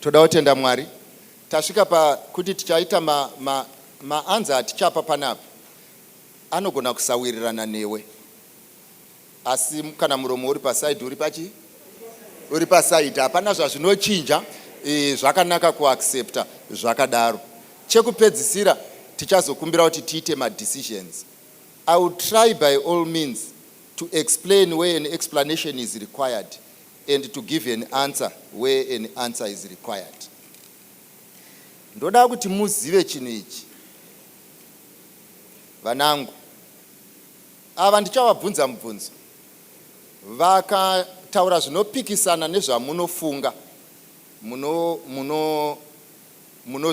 toda kutenda mwari tasvika pakuti tichaita maanza ma, atichapa panapa anogona kusawirirana newe asi kana muromo uri pasaidi uri pachi uri pasaidi hapana zvazvinochinja e, zvakanaka kuaccepta zvakadaro chekupedzisira tichazokumbira kuti tiite madecisions i will try by all means To explain where an explanation is required and to give an answer where an answer is required. Ndoda kuti muzive chinhu ichi vanangu. Ava ndichavabvunza mubvunzo vakataura zvinopikisana nezvamunofunga munozviramba muno, muno, muno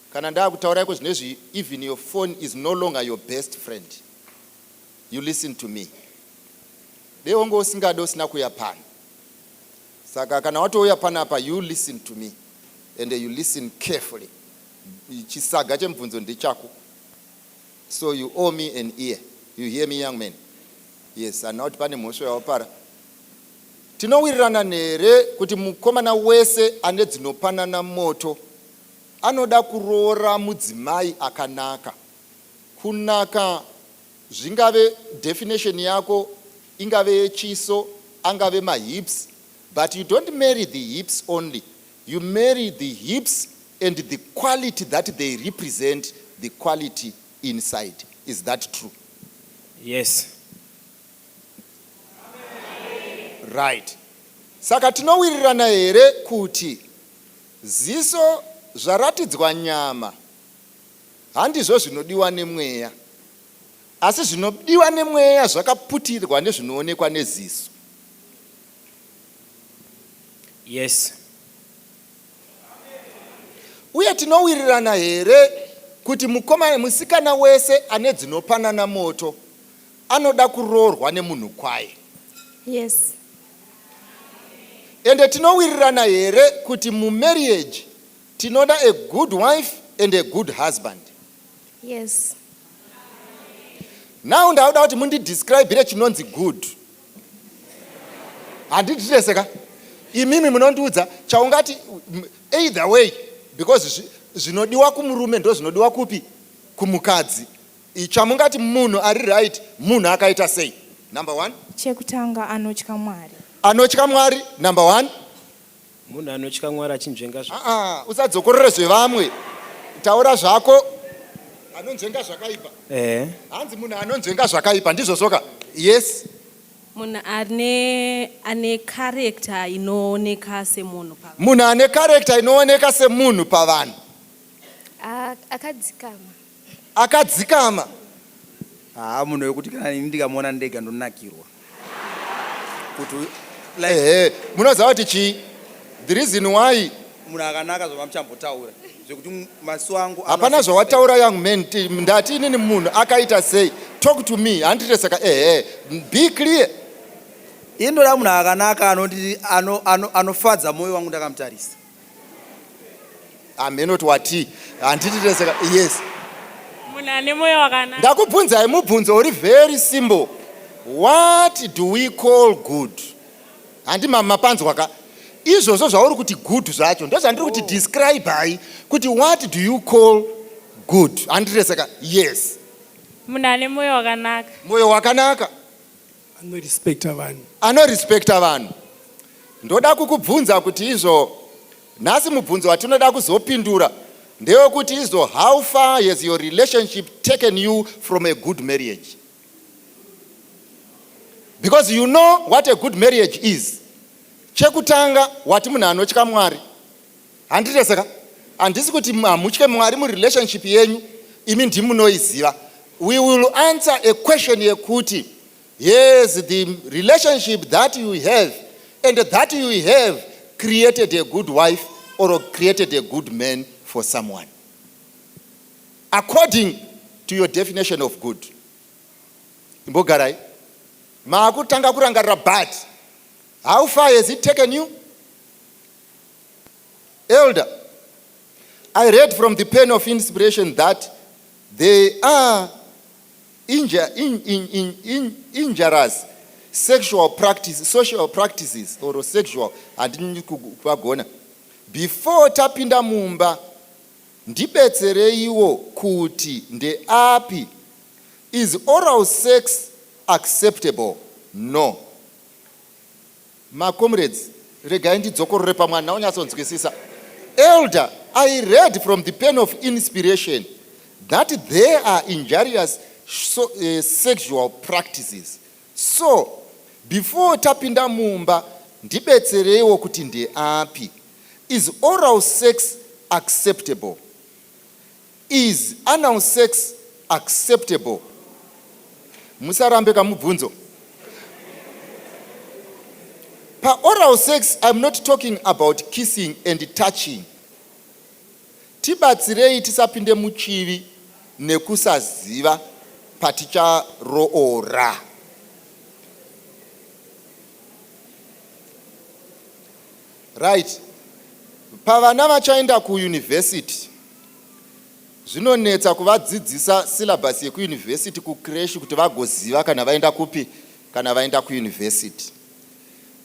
Kana ndakutaura iko zvinezvi even your phone is no longer your best friend you listen to me dei wonge usingade usina kuuya pano saka kana watouya panapa you listen to me and you listen carefully chisaga chemubvunzo ndechako so you owe me an ear you hear me young man yes handina kuti pane mhosva yawapara tinowirirana nere kuti mukomana wese ane dzinopanana moto Anoda kuroora mudzimai akanaka. Kunaka zvingave definition yako ingave yechiso angave mahips but you don't marry the hips only you marry the hips and the quality that they represent the quality inside is that true yes right saka tinowirirana here kuti Ziso zvaratidzwa nyama handizvo zvinodiwa nemweya, asi zvinodiwa nemweya zvakaputirwa nezvinoonekwa neziso. Yes. Uye tinowirirana here kuti mukoma, musikana wese ane dzinopanana moto anoda kuroorwa nemunhu kwaye? Yes. Ende tinowirirana here kuti mumarriage tinoda a good wife and a good husband? Yes. Now ndauda kuti mundidescribire chinonzi good. Handiti tese ka? Imimi munondiudza chaungati m- either way because zvi- zvinodiwa kumurume ndozvinodiwa kupi kumukadzi. Chamungati munhu ari right munhu akaita sei number one. Chekutanga anotya Mwari. Anotya Mwari number one. Munhu anotya Mwari achinzvenga zva. Ah, ah, usadzokorore zvevamwe. Taura zvako. Anonzvenga zvakaipa. Eh. Hanzi munhu anonzvenga zvakaipa ndizvo soka. Yes. Munhu ane ane character inooneka semunhu pa. Munhu ane character inooneka semunhu pavanhu. Akadzikama. akadzikama haa munhu wekuti kana ini ndikamuona ndega ndonakirwa kuti like ehe munoziva kuti chii the reason why munhu akanaka zvamamuchambotaura zvekuti mu- maso angu ano- hapana zvawataura young man ti- ndati inini munhu akaita sei talk to me handite saka ehe be clear ini ndoda munhu akanaka anondiri- ano- ano- anofadza moyo wangu ndakamutarisa hamheno kuti watii handiti tese yes munhu ane moyo wakanaka ndakubvunzai mubvunzo uri very simple what do we call good handi mapanzwa ka izvozvo zvauri kuti good zvacho ndozvandiri kuti oh. describe hai kuti what do you call good handiti tese ka yes munhu ane moyo wakanaka moyo wakanaka Anorespecta vanhu. Anorespecta vanhu. Ndoda kukubvunza kuti izvo nhasi mubvunzo watinoda kuzopindura ndewekuti izvo how far has your relationship taken you from a good marriage? Because you know what a good marriage is. Chekutanga wati munhu anotya Mwari. Handite saka handisi kuti hamutye Mwari murelationship yenyu imi ndimunoiziva. We will answer a question yekuti yes the relationship that you have and that you have created a good wife or created a good man for someone according to your definition of good. Imbogarai maakutanga kurangarira but how far has it taken you? Elder, I read from the pen of inspiration that there are inja, in, in, in, in, injurious sexual practice, social practices or sexual handini kupagona before tapinda mumba ndibetsereiwo kuti ndeapi is oral sex acceptable no Ma comrades regai ndidzokorore pamwe handina kunyatsonzwisisa. Elder, I read from the pen of inspiration that there are injurious so, uh, sexual practices. So before tapinda mumba ndibetsereiwo kuti ndeapi. Is oral sex acceptable? Is anal sex acceptable? Musarambe ka mubvunzo. Pa oral sex I'm not talking about kissing and touching. Tibatsirei tisapinde muchivi nekusaziva paticharoora. Right. Pavana vachaenda kuuniversity Zvinonetsa kuvadzidzisa syllabus yekuuniversity kucresh kuti vagoziva kana vaenda kupi kana vaenda kuuniversity.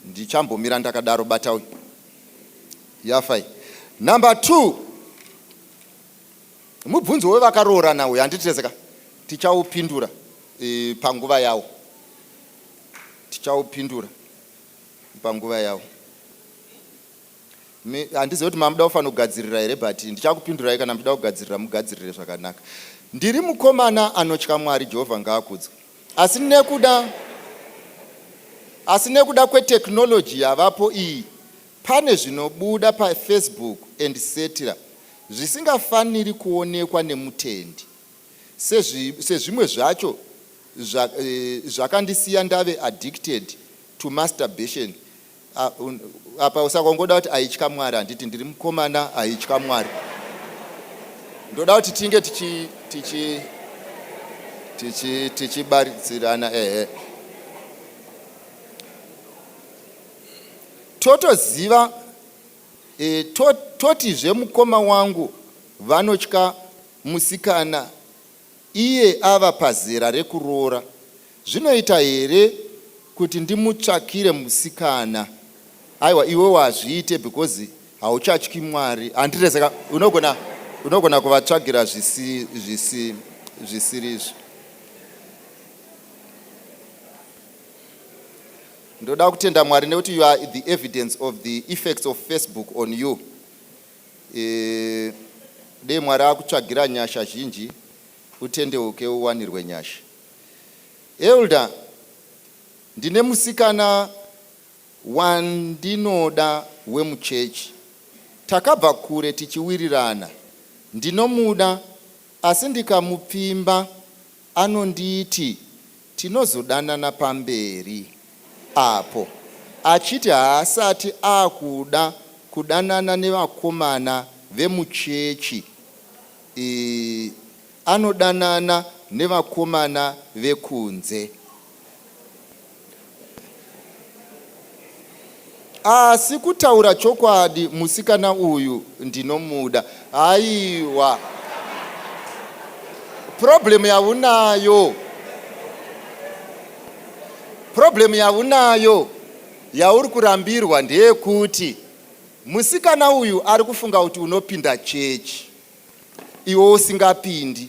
Ndichambomira ndakadaro bata uyu. Yafai. Number 2. Mubvunzo wevakaroorana uyu handitezeka. Tichaupindura e, panguva yawo. Tichaupindura panguva yawo. handizive kuti mamuda kufanira kugadzirira here but ndichakupindurai kana muchida kugadzirira mugadzirire zvakanaka ndiri mukomana anotya mwari jehovha ngaakudzwe asi nekuda asi nekuda kwetechnology yavapo iyi pane zvinobuda pafacebook and cetera zvisingafaniri kuonekwa nemutendi Sezvi, sezvimwe zvacho zva, e, zvakandisiya ndave addicted to masturbation apa usaka ungoda kuti aitya mwari handiti ndiri mukomana aitya mwari ndoda kuti tinge tichi tichi tichi tichibaridzirana ehe totoziva e, to, totizve mukoma wangu vanotya Musikana iye ava pazera rekuroora zvinoita here kuti ndimutsvakire musikana aiwa iwewo hazviite because hauchatyi Mwari handire saka unogona unogona kuvatsvagira zvisi zvisi zvisirizvo ndoda kutenda Mwari nekuti you are the evidence of the effects of Facebook on you Eeh dei Mwari akutsvagira nyasha zhinji utendeuke uwanirwe nyasha. Elder ndine musikana wandinoda wemuchurch takabva kure tichiwirirana ndinomuda asi ndikamupfimba Anonditi tinozodanana pamberi apo achiti haasati akuda kudanana nevakomana vemuchechi ii anodanana nevakomana vekunze. asi kutaura chokwadi musikana uyu ndinomuda haiwa problem yaunayo problem yaunayo yauri kurambirwa ndeyekuti musikana uyu ari kufunga kuti unopinda chechi iwe usingapindi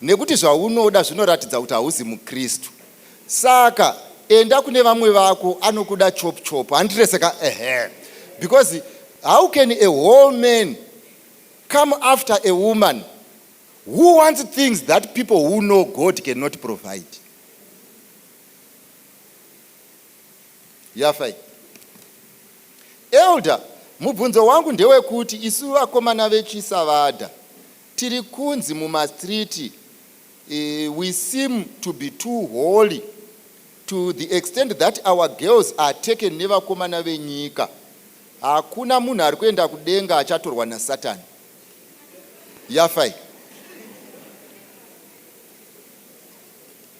nekuti zvaunoda zvinoratidza kuti hauzi mukristu saka enda kune vamwe vako anokuda chop chop handirese ka ehe because how can a whole man come after a woman who wants things that people who know god cannot provide yafa iyi. Elder, mubvunzo wangu ndewekuti isu vakomana veChisavada tiri kunzi mumastreet uh, we seem to be too holy to the extent that our girls are taken nevakomana venyika. Hakuna munhu ari kuenda kudenga achatorwa naSatan. Yafa iyi.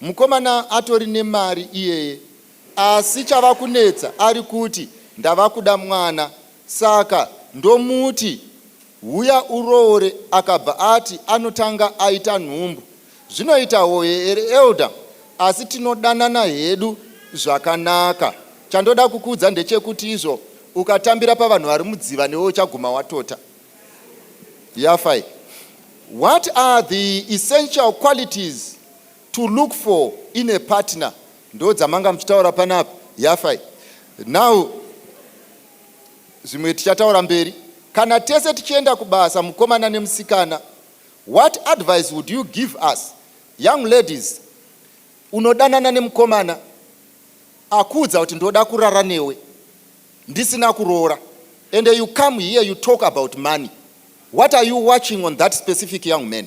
Mukomana atori nemari iyeye asi chavakunetsa ari kuti ndavakuda mwana saka ndomuti huya uroore akabva ati anotanga aita nhumbu. Zvinoita hoye here Elder asi tinodanana hedu zvakanaka. Chandoda kukuudza ndechekuti izvo ukatambira pavanhu vari mudziva newe uchaguma watota. Yafai. What are the essential qualities to look for in a partner ndo dzamanga muchitaura panapa yafa iyi now zvimwe tichataura mberi kana tese tichienda kubasa mukomana nemusikana what advice would you give us young ladies unodanana nemukomana akuudza kuti ndoda kurara newe ndisina kuroora and you come here you talk about money what are you watching on that specific young man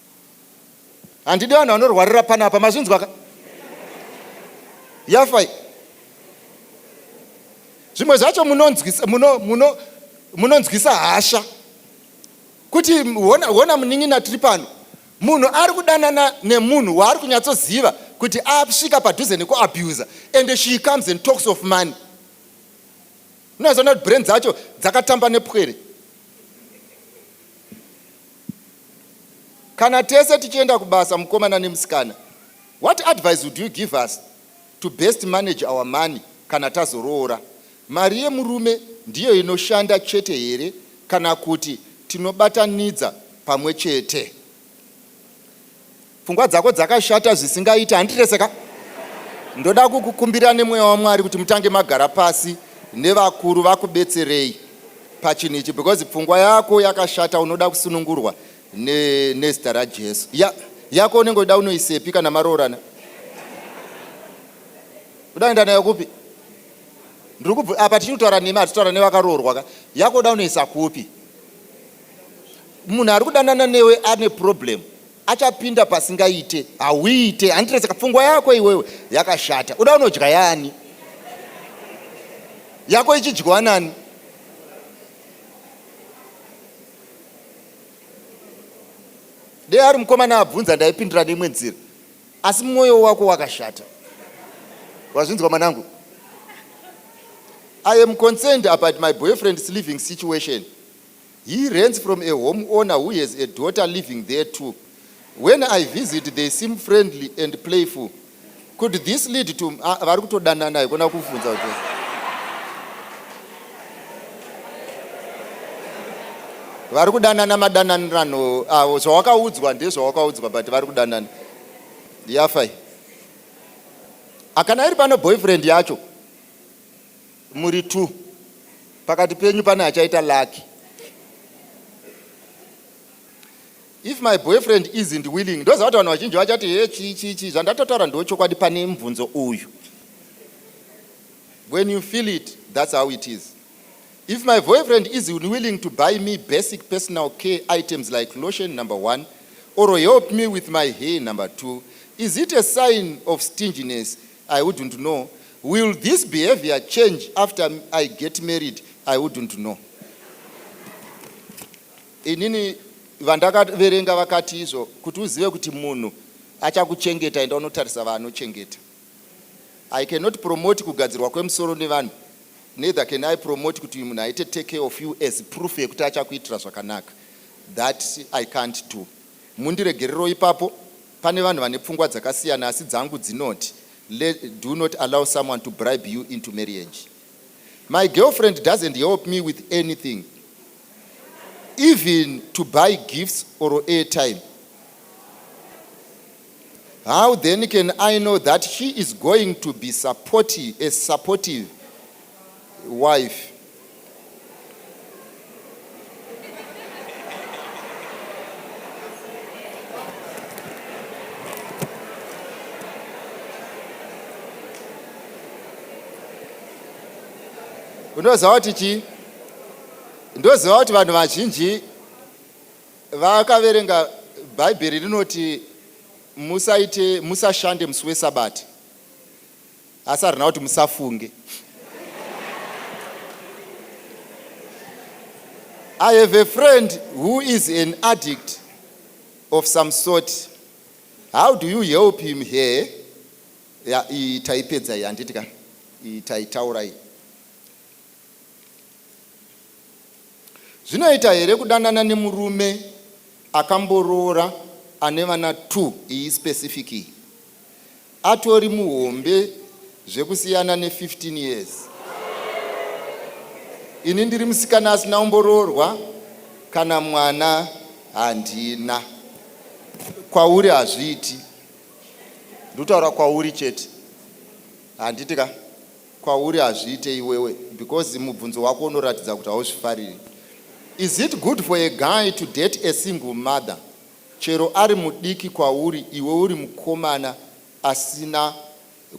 handidi vanhu vanorwarira panapa mazvinzwa ka yafai zvimwe zvacho munonzwisa muno, muno, munonzwisa hasha kuti hona, hona munin'ina tiri pano munhu ari kudanana nemunhu waari kunyatsoziva kuti asvika padhuze nekuabuser and she comes and talks of money unozoona kuti brain dzacho dzakatamba nepwere Kana tese tichienda kubasa mukomana nemusikana, what advice would you give us to best manage our money kana tazoroora? Mari yemurume ndiyo inoshanda chete here kana kuti tinobatanidza pamwe chete? Pfungwa dzako dzakashata zvisingaite handirese ka. Ndoda kukukumbira nemweya waMwari kuti mutange magara pasi nevakuru vakubetserei pachinhu ichi because pfungwa yako yakashata unoda kusunungurwa ne, nezita raJesu. Ya, yako unenge uida unoisepi kana maroorana? Uda kuenda nayo kupi? Ndiri kubvu apa tichiri kutaura nemi hatitaura nevakaroorwa ka. Yako uda unoisa kupi? Munhu ari kudanana newe ane problem. Achapinda pasingaite hauite handiti saka pfungwa yako iwewe yakashata uda unodya yaani yako ichidyiwa nani dei ari mukomana abvunza ndaipindura neimwe nzira asi mwoyo wako wakashata wazvinzwa mwanangu i am concerned about my boyfriend's living situation He rents from a home owner who has a daughter living there too. When I visit they seem friendly and playful. Could this lead to ah, vari kutodanana haikona kuvhunza kuti vari kudanana madananirano avo zvawakaudzwa ndezvawakaudzwa but vari kudanana yafai akana iri pano boyfriend yacho Muri two pakati penyu pane achaita lucky. If my boyfriend isn't willing, ndoziva kuti vanhu vazhinji vachati he chii chii chii, zvandatotaura ndiwo chokwadi pane mubvunzo uyu. When you feel it, that's how it is. If my boyfriend is unwilling to buy me basic personal care items like lotion number one, or help me with my hair number two, is it a sign of stinginess I wouldn't know Will this behavior change after I get married I wouldn't know Inini vandakaverenga vakati izvo kuti uzive kuti munhu achakuchengeta enda unotarisa vaanochengeta I cannot promote kugadzirwa kwemusoro nevanhu neither can I promote kuti uyu munhu aite take care of you as proof yekuti achakuitira zvakanaka that I can't do mundiregerero ipapo Pane vanhu vane pfungwa dzakasiyana asi dzangu dzinoti le do not allow someone to bribe you into marriage. My girlfriend doesn't help me with anything even to buy gifts or airtime. How then can I know that she is going to be supportive, as supportive wife unoziva kuti chii ndoziva kuti vanhu vazhinji vakaverenga bhaibheri rinoti musaite musashande musi wesabati asi harina kuti musafunge I have a friend who is an addict of some sort. How do you help him here? Yeah, taipedza iyi handiti ka taitaura iyi Zvinoita here kudanana nemurume akamboroora ane vana two iyi specific iyi atori muhombe zvekusiyana ne 15 years ini ndiri musikana asina umboroorwa kana mwana handina kwauri hazviiti ndikutaura kwauri chete handiti ka kwauri hazviite iwewe because mubvunzo wako unoratidza kuti hauzvifariri is it good for a guy to date a single mother chero ari mudiki kwauri iwe uri mukomana asina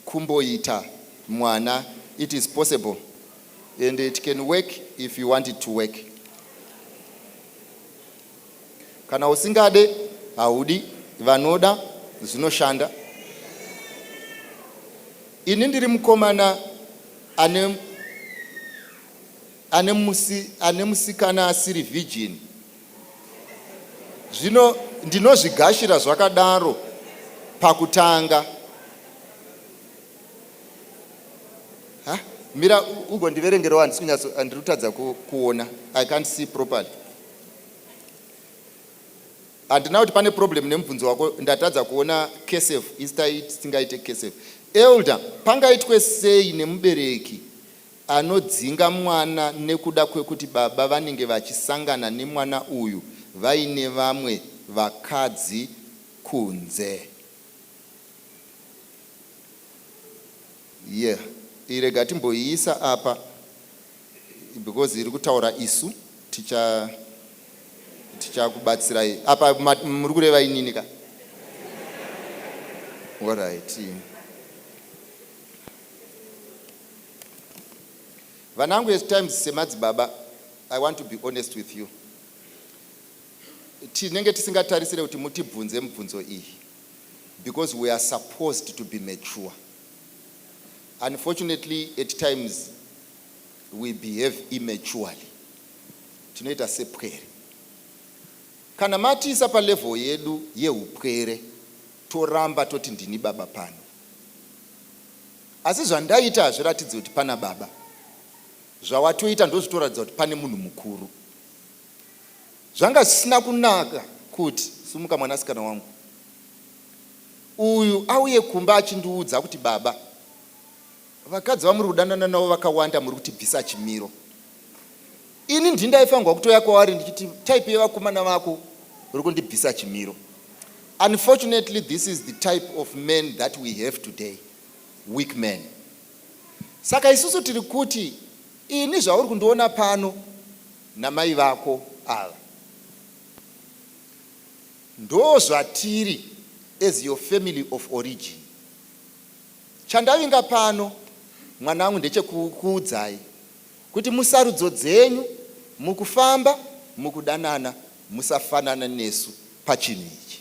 kumboita mwana it is possible and it can work if you want it to work Kana usingade haudi vanoda zvinoshanda. Ini ndiri mukomana ane ane musi ane musikana asiri virgin. Zvino ndinozvigashira zvakadaro pakutanga. Ha, mira ugondiverengerawo handisi kunyatso handiri kutadza kuona. I can't see properly. handina kuti pane problem nemubvunzo wako ndatadza kuona kesef istai tisingaite kesef elder pangaitwe sei nemubereki anodzinga mwana nekuda kwekuti baba vanenge vachisangana nemwana uyu vaine vamwe vakadzi kunze Yeah iyi rega timboiisa apa because iri kutaura isu ticha tichakubatsirai apa muri kureva inini ka orit vanangu as times semadzibaba i want to be honest with you tinenge tisingatarisire kuti mutibvunze mibvunzo iyi because we are supposed to be mature unfortunately at times we behave immaturely tinoita sepwere kana matiisa palevel yedu yeupwere toramba toti ndini baba pano asi zvandaita hazviratidzi kuti pana baba zvawatoita ndozvitoratidza kuti pane munhu mukuru Zvanga zvisina kunaka kuti, Sumuka mwanasikana wangu. Uyu auye kumba achindiudza kuti baba, vakadzi vamuri kudanana navo vakawanda muri kutibvisa chimiro. Ini ndini ndaifanirwa kutoya kwavari ndichiti type yevakomana vako uri kundibvisa chimiro. Unfortunately this is the type of men that we have today, weak men. Saka isusu tiri kuti ini zvauri kundiona pano namai vako ava ndozvatiri as your family of origin chandavinga pano mwana wangu ndechekukuudzai kuti musarudzo dzenyu mukufamba mukudanana musafanana nesu pachinhu ichi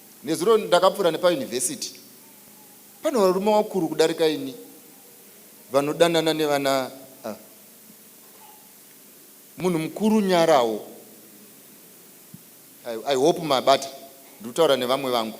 Nezuro ndakapfuura nepaUniversity pane varume vakuru kudarika ini vanodanana nevana ah. Munhu mukuru nyarawo. I, I hope mabata ndikutaura nevamwe vangu.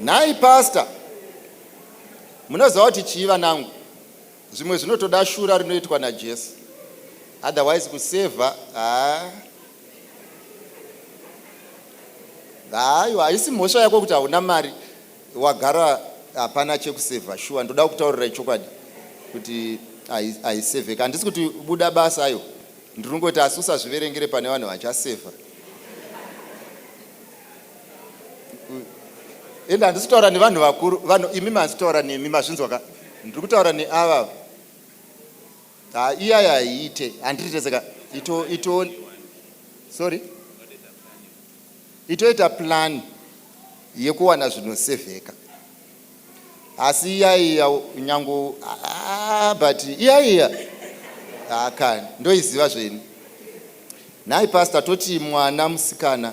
Nhai pastor munoziva kuti chii vanangu zvimwe zvinotoda shura rinoitwa najesu otherwise kusevha haa hayo haisi mhosva yako kuti hauna mari wagara hapana chekusevha shuwa ndoda kutaurira ichokwadi kuti haisevheka handisi kuti buda basa ayo ndiri kungoti asi usazviverengere pane vanhu vachasevha ende handisi kutaura nevanhu vakuru vanhu imi mahasi kutaura nemi mazvinzwa ka ndiri kutaura neava ha iyaya haiite handiite saka ito ito sorry itoita plan yekuwana zvinosevheka asi iyaiya nyangu ah, but iyaiya akani ah, ndoiziva zveni nhai pasta toti mwana musikana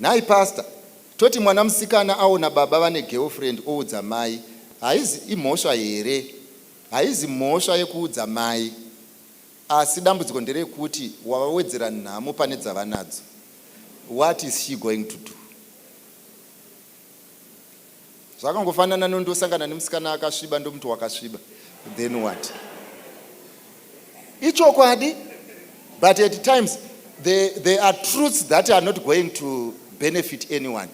Nhai pastor toti mwana musikana aona baba vane girlfriend oudza mai haizi imhosva here haizi mhosva yekuudza mai asi dambudziko nderekuti wavawedzera nhamo pane dzavanadzo what is she going to do zvakangofanana nondosangana nemusikana akasviba ndomuti wakasviba then what ichokwadi but at times there, there are truths that are not going to benefit anyone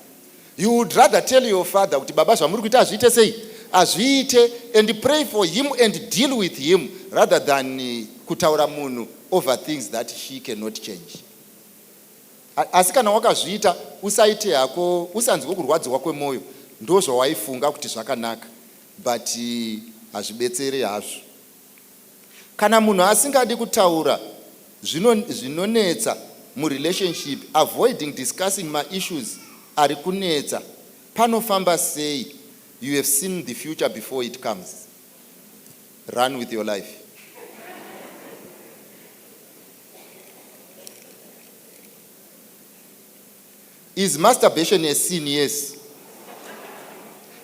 you would rather tell your father kuti baba zvamuri kuita azviite sei azviite and pray for him and deal with him rather than eh, kutaura munhu over things that he cannot change Asi kana wakazviita usaite hako usanzwe kurwadziwa kwemoyo ndozvawaifunga kuti zvakanaka but hazvibetsere hazvo. Kana munhu asingadi kutaura zvino zvinonetsa mu relationship avoiding discussing ma issues ari kunetsa panofamba sei you have seen the future before it comes run with your life. Is masturbation a sin? Yes.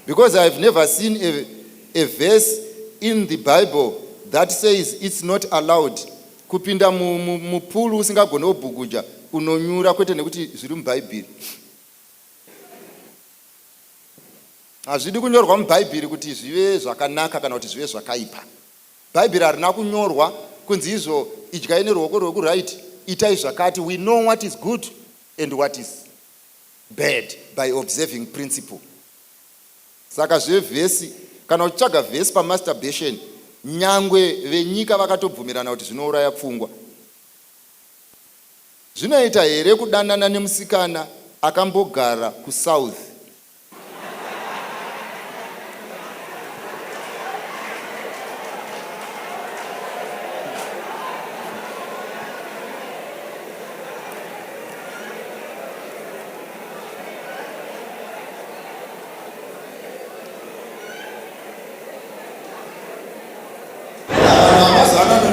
Because I have never seen a, a verse in the Bible that says it's not allowed kupinda mupulu usingagone kubhuguja unonyura kwete nekuti zviri mubhaibheri hazvidi kunyorwa mubhaibheri kuti zvive zvakanaka kana kuti zvive zvakaipa Bhaibheri harina kunyorwa kunzi izvo idyai neruoko rwekuright itai zvakati we know what is good and what is bad by observing principle saka zvevhesi kana uchitsvaga vhesi pamasturbation nyangwe venyika vakatobvumirana kuti zvinouraya pfungwa zvinoita here kudanana nemusikana akambogara kusouth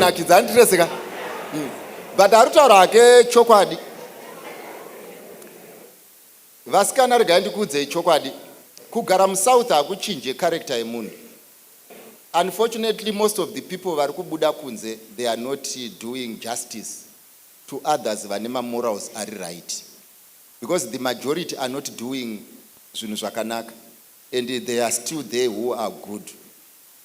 kunakidza andirese ka hmm. but ari kutaura hake chokwadi Vasikana regai ndikuudzei chokwadi kugara musouth hakuchinje character yemunhu unfortunately most of the people vari kubuda kunze they are not doing justice to others vane mamorals ari right because the majority are not doing zvinhu zvakanaka and they are still there who are good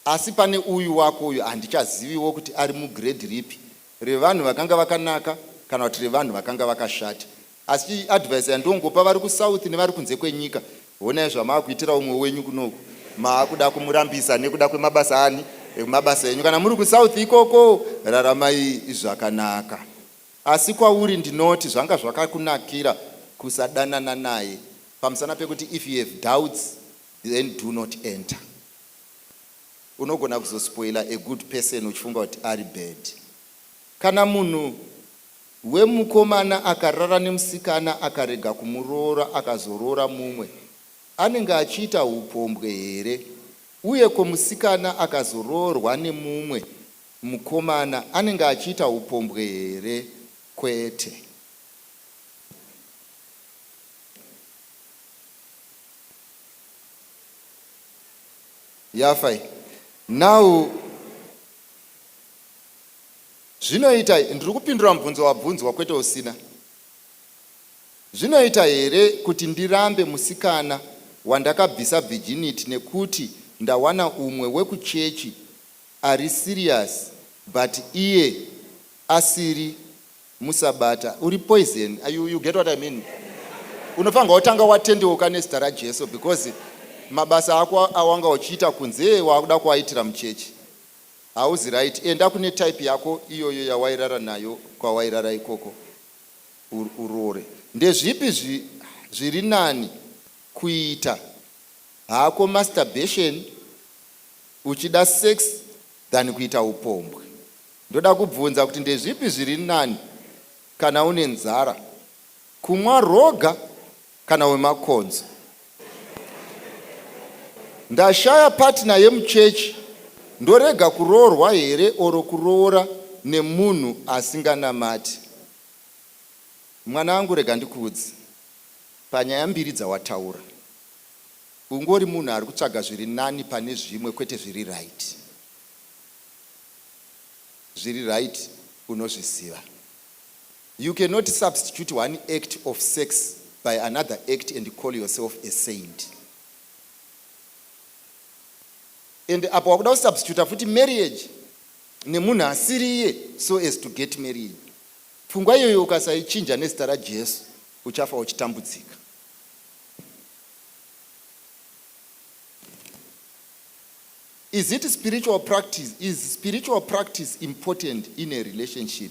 asi pane uyu wako uyu handichaziviwo kuti ari mugrade ripi revanhu vakanga vakanaka kana kuti revanhu vakanga vakashata Asi advice yandongopa vari kusouth nevari kunze kwenyika honai zvamaakuitira umwe wenyu kunoku maakuda kumurambisa nekuda kwemabasa ani emabasa enyu kana muri kusouth ikoko raramai zvakanaka asi kwauri ndinoti zvanga zvakakunakira kusadanana naye pamusana pekuti if you have doubts then do not enter unogona kuzospoila a good person uchifunga kuti ari bad kana munhu Wee mukomana akarara nemusikana akarega kumuroora akazoroora mumwe anenge achiita hupombwe here uye ko musikana akazoroorwa nemumwe mukomana anenge achiita hupombwe here kwete. Yafa iyi now. Zvinoita, ndiri kupindura mubvunzo wabvunzwa kwete usina. Zvinoita here kuti ndirambe musikana wandakabvisa virginity nekuti ndawana umwe wekuchechi ari serious but iye asiri musabata? Uri poison. You, you get what I mean? Unofanirwa kutanga watendeuka nezita raJesu because mabasa ako awanga uchiita kunze wakuda kuaitira muchechi. Hauzi right enda kune type yako iyoyo yawairara nayo kwawairara ikoko uroore. Ndezvipi zviri nani kuita hako masturbation uchida sex than kuita upombwe. Ndoda kubvunza kuti ndezvipi zviri nani kana une nzara kumwa roga kana wemakonzo ndashaya partner yemuchechi ndorega kuroorwa here or kuroora nemunhu asinganamati mwanangu rega ndikuudze panyaya mbiri dzawataura ungori munhu ari kutsvaga zviri nani pane zvimwe kwete zviri right zviri right unozviziva You cannot substitute one act of sex by another act and call yourself a saint. And apa wakuda kusubstituta futi marriage nemunhu asiri iye so as to get married. Pfungwa iyoyo ukasaichinja nezita raJesu uchafa uchitambudzika. Is it spiritual practice? Is spiritual practice important in a relationship?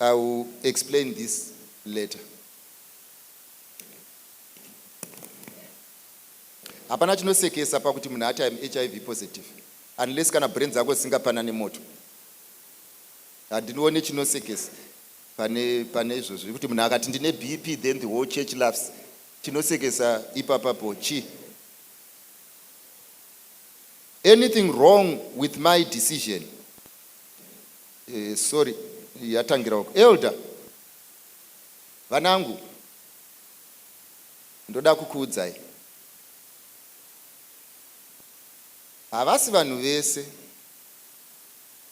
I will explain this later. Hapana chinosekesa pakuti munhu ati I'm HIV positive unless kana brain dzako dzisingapanane moto. Handinoone chinosekesa pane pane izvozvo kuti munhu akati ndine BP then the whole church laughs. Chinosekesa ipapapo chi anything wrong with my decision Eh sorry yatangira uko. Elder vanangu ndoda kukuudzai havasi vanhu vese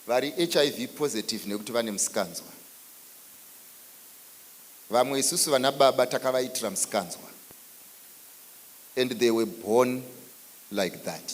vari hiv positive nekuti vane musikanzwa vamwe isusu vana baba takavaitira musikanzwa and they were born like that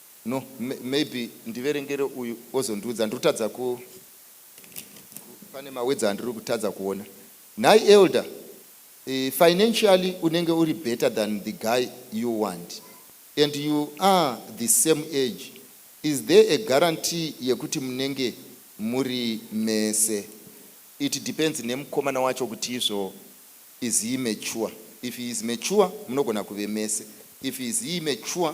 No maybe ndiverengere uyu ozondiudza ndirikutadza ku pane ma words andirikutadza kuona nhai elder uh, financially unenge uri better than the guy you want and you are the same age is there a guarantee yekuti munenge muri mese it depends nemukomana wacho kuti izvo is he mature if he is mature munogona kuve mese if he is he mature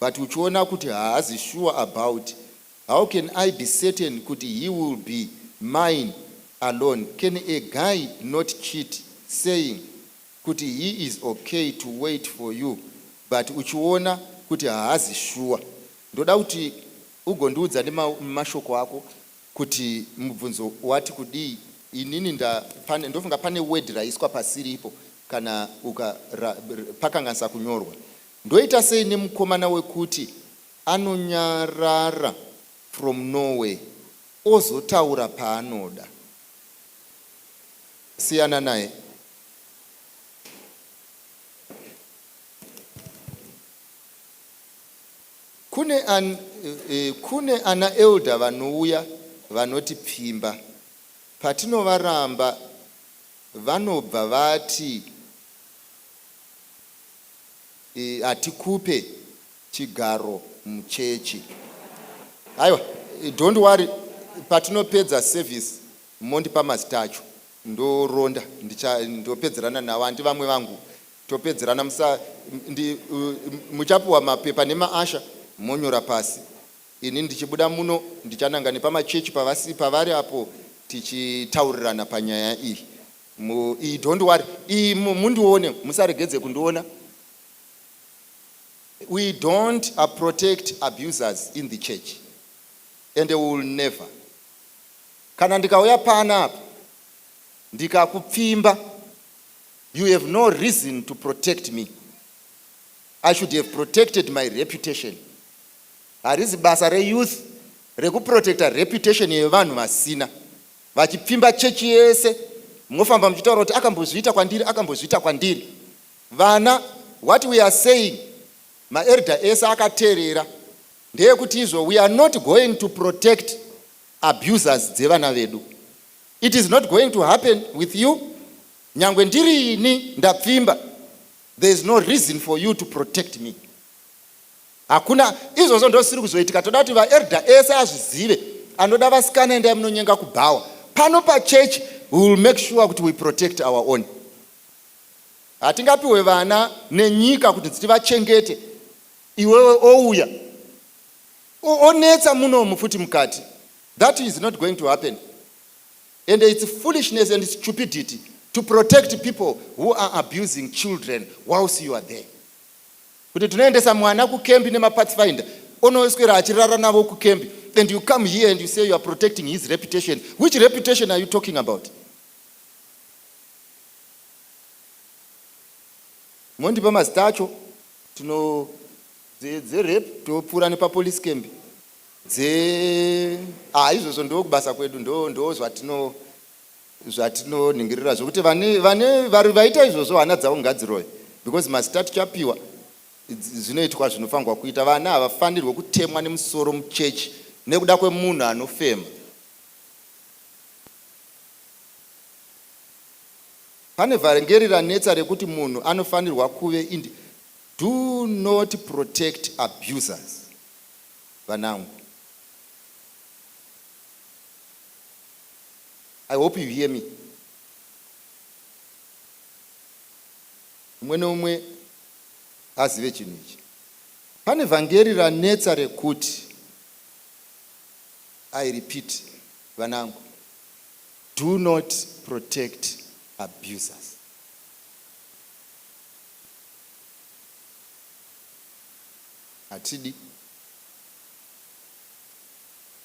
but uchiona kuti haazi sure about how can I be certain kuti he will be mine alone can a guy not cheat saying kuti he is ok to wait for you but uchiona kuti haazi sure ndoda kuti ugondiudza nemashoko ako kuti mubvunzo wati kudii inini ndofunga pane word raiswa pasiripo kana uka pakanganisa kunyorwa Ndoita sei nemukomana wekuti anonyarara from Norway ozotaura paanoda. Siyana naye. Kune, an, eh, kune ana elder vanouya vanoti pfimba. Patinovaramba vanobva vati hatikupe chigaro muchechi haiwa don't worry patinopedza service mondipa mazita acho ndoronda ndicha ndopedzerana navo handi vamwe vangu topedzerana musa ndi muchapiwa mapepa nema asha monyora pasi ini ndichibuda muno ndichananga nepamachechi pavasi pavari apo tichitaurirana panyaya iyi Umm ii don't worry ii mundione musaregedze kundiona we don't protect abusers in the church and we will never kana ndikauya pana apa ndikakupfimba you have no reason to protect me i should have protected my reputation harizi basa reyouth rekuprotecta reputation yevanhu vasina Vachipfimba chechi yese mofamba muchitaura kuti akambozviita kwandiri akambozviita kwandiri. Vana what we are saying maElder ese akaterera ndeyekuti izvo we are not going to protect abusers dzevana vedu. It is not going to happen with you nyangwe ndiri ini ndapfimba there is no reason for you to protect me. Hakuna izvozvo ndozvisiri kuzoitika toda kuti vaelder ese azvizive anoda vasikana endai munonyenga kubhawa pano pachurch we will make sure kuti we protect our own hatingapiwe vana nenyika kuti dzitivachengete iwewe ouya onetsa munomu futi mukati that is not going to happen and its foolishness and stupidity to protect people who are abusing children whilst you are there Kuti tinoendesa mwana kukembi nemapathfinder onoswera achirara navo kukembi and you come here and you say you are protecting his reputation. Which reputation are you talking about? Mondipa mazita acho tino dzerape topfuura nepapolice camp dze ah izvozvo ndokubasa kwedu ndo ndo zvatino zvatinonhingiririra zvokuti vane vane vari vaita izvozvo hana dzavo ngadziroye because mazita tichapiwa zvinoitwa zvinofanirwa kuita vana havafanirwe kutemwa nemusoro muchechi nekuda kwemunhu anofema pane vhangeri ranetsa rekuti munhu anofanirwa kuve indi do not protect abusers vanangu I hope you hear me umwe neumwe azive chinhu ichi pane vhangeri ranetsa rekuti i repeat vanangu do not protect abusers hatidi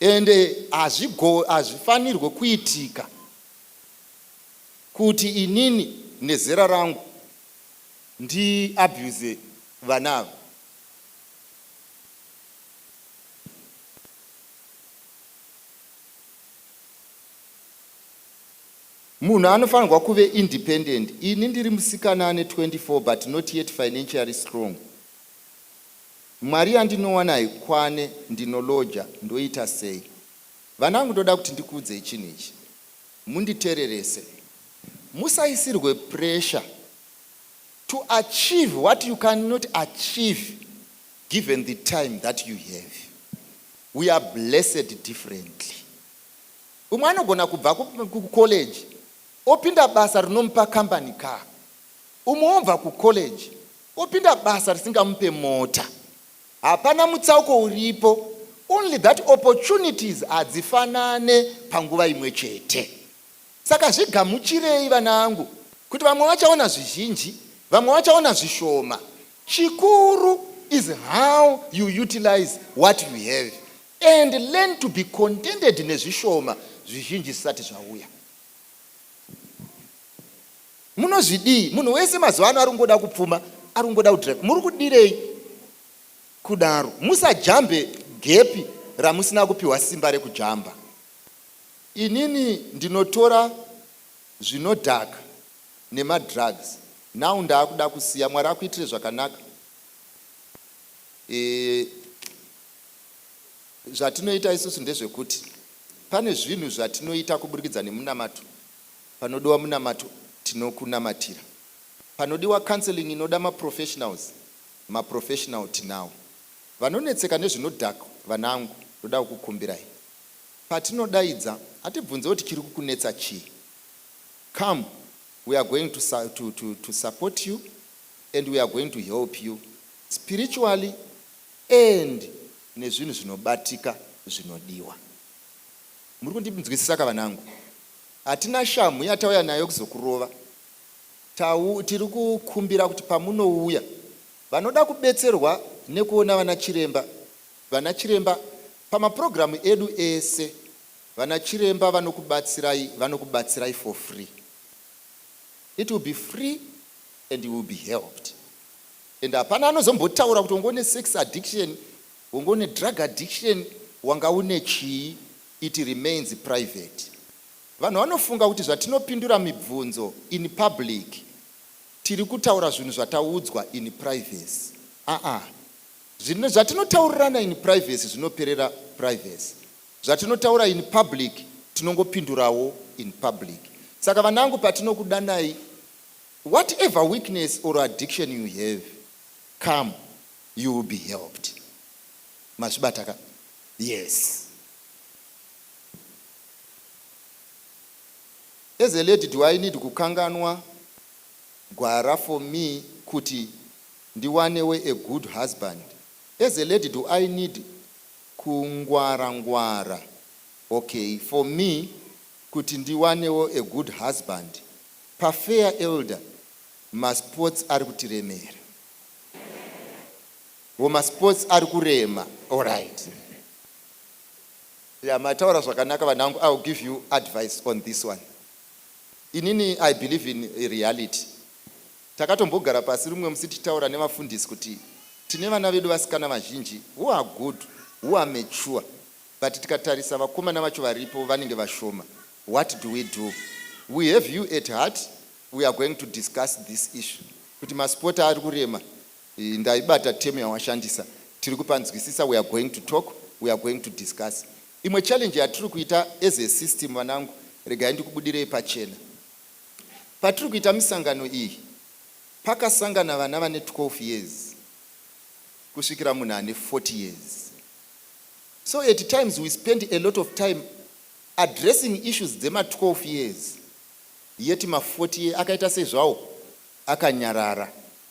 Ende hazvifanirwe kuitika kuti inini nezera rangu ndi abuse vana ava. Munhu anofanirwa kuve independent. Ini ndiri musikana ane 24 but not yet financially strong. Mwari yandinowanai kwane ndinolodger ndoita sei vanangu ndoda kuti ndikuudzei chinhu ichi munditererese musaisirwe pressure to achieve what you can not achieve given the time that you have we are blessed differently umwe anogona kubva kucollege opinda basa rinomupa company car umwe obva kucollege Opinda basa risingamupe mota. Hapana mutsauko uripo only that opportunities hadzifanane panguva imwe chete. Saka zvigamuchirei vanangu kuti vamwe vachaona zvizhinji vamwe vachaona zvishoma. Chikuru is how you utilize what you have and learn to be contented nezvishoma zvizhinji zvisati zvauya. Munozvidii munhu wese mazuva ano arungoda kupfuma arungoda kudrive muri kudirei kudaro musajambe gepi ramusina kupiwa simba rekujamba inini ndinotora zvinodhaka nemadrugs now ndaakuda kusiya mwari akuitire zvakanaka e, zvatinoita isusu ndezvekuti pane zvinhu zvatinoita kuburikidza nemunamato Panodiwa munamato tinokunamatira. Panodiwa counselling inoda ma professionals ma professional tinawo. Vanonetseka nezvinodhak vanangu ndoda kukukumbirai patinodaidza hatibvunzewo tichiri kukunetsa chii come we are going to sa to to to support you and we are going to help you spiritually and nezvinhu zvinobatika zvinodiwa. Muri kundinzwisisa ka vanangu? Hatina shamhu yatauya nayo kuzokurova. Tau, tiri kukumbira kuti pamunouya vanoda kubetserwa nekuona vana chiremba, vana chiremba pamapurogiramu edu ese, vana chiremba vanokubatsirai, vanokubatsirai for free. It will be free and you will be helped. And hapana anozombotaura kuti wanga une sex addiction, wanga une drug addiction, wanga une chii. It remains private. Vanhu vanofunga kuti zvatinopindura mibvunzo in public tiri kutaura zvinhu zvataudzwa in privacy. Aah. Zvinhu zvatinotaurirana in privacy zvinoperera privacy. Zvatinotaura in public tinongopindurawo in public. Saka vanangu patinokudanai whatever weakness or addiction you have come you will be helped. Mazvibata ka? Yes as a lady do I need kukanganwa gwara for me kuti ndiwanewo a good husband as a lady do I need kungwara ngwara okay for me kuti ndiwanewo a good husband pa fair elder masports arikutiremera. Ko masports ari kurema. Alright. Yeah, mataura zvakanaka vanangu. I'll give you advice on this one. Inini I believe in reality. Takatombogara pasi rumwe musi tichitaura nevafundisi kuti tine vana vedu vasikana vazhinji who are good, who are mature, but tikatarisa vakomana vacho varipo vanenge vashoma. What do we do? We have you at heart. We are going to discuss this issue. Kuti masport ari kurema. Iyi ndaibata term yawashandisa tiri kupanzwisisa we are going to talk we are going to discuss imwe challenge yatiri kuita as a system vanangu regai ndikubudirei pachena patiri kuita misangano iyi pakasangana vana vane 12 years kusvikira munhu ane 40 years so at times we spend a lot of time addressing issues dzema 12 years yet ma 40 year akaita sezvawo akanyarara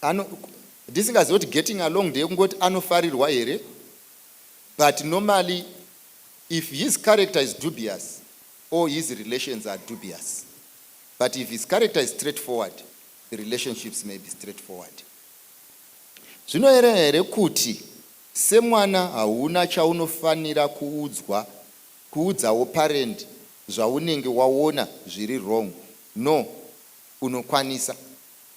Ano ndisingazive kuti getting along ndeyekungoti anofarirwa here but normally if his character is dubious or his relations are dubious but if his character is straight forward the relationships may be straight forward zvinoyerera here kuti semwana hauna chaunofanira kuudzwa kuudzawo parent zvaunenge waona zviri wrong no unokwanisa